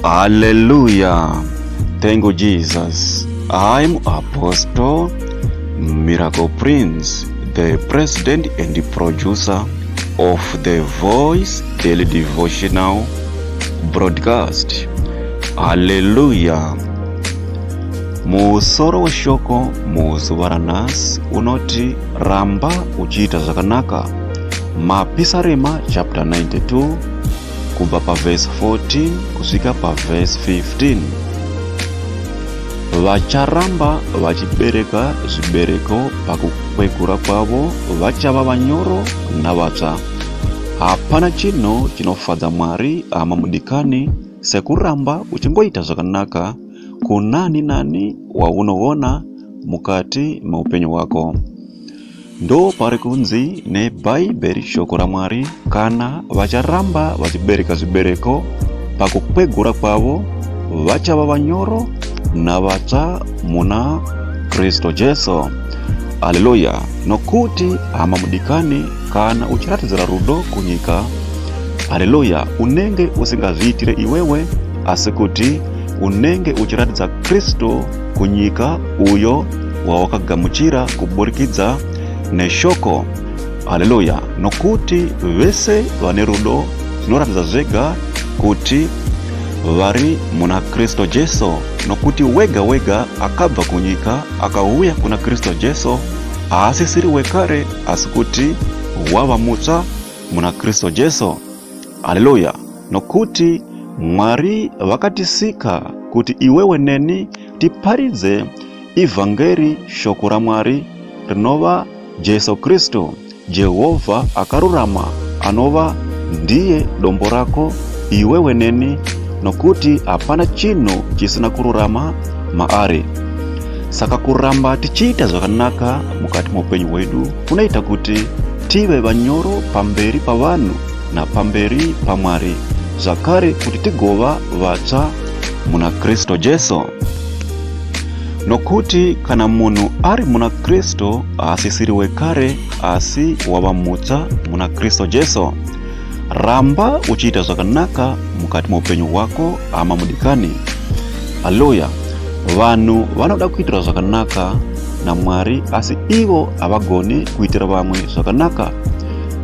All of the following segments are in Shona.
Hallelujah. Thank you, Jesus. I'm Apostle Miracle Prince, the president and the producer of the Voice Daily Devotional broadcast. Hallelujah. Musoro weshoko muzuva ranhasi unoti ramba uchiita zvakanaka Mapisarema chapter 92 kubva pavhesi 14 kusvika pavhesi 15 vacharamba vachibereka zvibereko pakukwegura kwavo vachava vanyoro navatsva hapana chinhu chinofadza mwari hama mudikani sekuramba uchingoita zvakanaka kunani nani waunoona mukati meupenyu hwako Ndo pari kunzi nebhaibheri shoko raMwari kana vacharamba vachibereka zvibereko pakukwegura kwavo vachava vanyoro navatsva muna Kristu Jesu. Haleluya! Nokuti hama mudikani, kana uchiratidzira rudo kunyika, haleluya, unenge usingazviitire iwewe, asi kuti unenge uchiratidza Kristu kunyika uyo wawakagamuchira kuburikidza neshoko haleluya nokuti vese vane rudo zvinoratidza zvega kuti vari muna kristu jesu nokuti wega wega akabva kunyika akauya kuna kristu jesu haasisiri wekare asi kuti wava mutsva muna kristu jesu Haleluya! Nokuti Mwari vakatisika kuti iwewe neni tiparidze ivhangeri, shoko raMwari rinova Jesu Kristu. Jehovha akarurama anova ndiye dombo rako iwewe neni, nokuti hapana chinhu chisina kururama maari. Saka kuramba tichiita zvakanaka mukati meupenyu hwedu kunoita kuti tive vanyoro pamberi pavanhu napamberi paMwari, zvakare kuti tigova vatsva muna Kristu Jesu. Nokuti kana munhu ari muna Kristu haasisiri wekare, asi wava mutsva muna Kristu Jesu. Ramba uchiita zvakanaka mukati meupenyu hwako hama mudikani. Haleluya! Vanhu vanoda kuitirwa zvakanaka naMwari asi ivo havagone kuitira vamwe zvakanaka.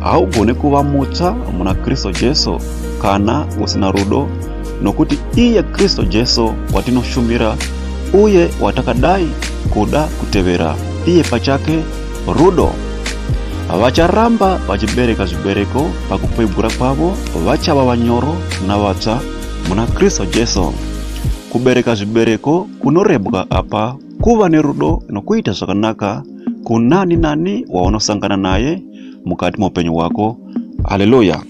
Haugone kuva mutsva muna Kristu Jesu kana usina rudo, nokuti iye Kristu Jesu watinoshumira uye watakadai kuda kutevera iye pachake Rudo vacharamba vachibereka zvibereko pakukwegura kwavo vachava vanyoro navatsva muna kristu jesu kubereka zvibereko kunorebwa apa kuva nerudo nokuita zvakanaka kunani nani waunosangana naye mukati meupenyu hwako haleluya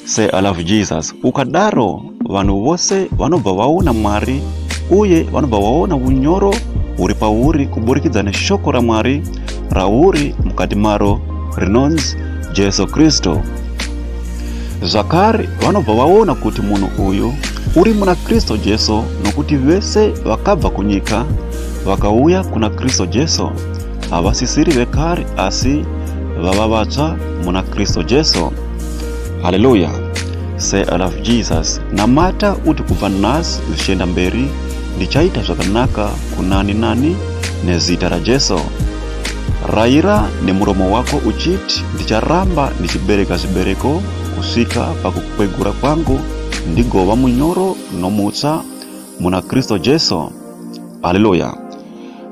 Say I love Jesus. Ukadaro vanhu vose vanobva vaona Mwari uye vanobva vaona unyoro huri pauri kuburikidza neshoko raMwari rauri mukati maro rinonzi Jesu Kristu. Zvakare vanobva vaona kuti munhu uyu uri muna Kristu Jesu nokuti vese vakabva kunyika vakauya kuna Kristu Jesu havasisiri vekare asi vava vatsva muna kristu jesu haleluya say i love jesus namata uti kubva nhasi zvichienda mberi ndichaita zvakanaka kunani nani nezita rajesu rayira nemuromo wako uchiti ndicharamba ndichibereka zvibereko kusvika pakukwegura kwangu ndigova munyoro nomutsa muna kristu jesu haleluya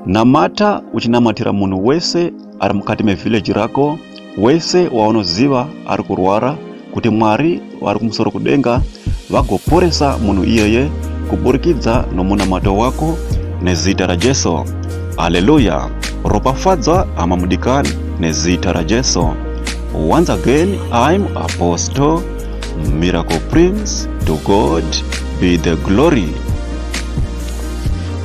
Namata uchinamatira munhu wese ari mukati mevhileji rako, wese waunoziva ari kurwara, kuti Mwari vari kumusoro kudenga vagoporesa munhu iyeye kuburikidza nomunamato wako nezita raJesu. Haleluya! Ropafadzwa hama mudikani nezita raJesu. Once again, I'm Apostle Miracle Prince. To God be the glory.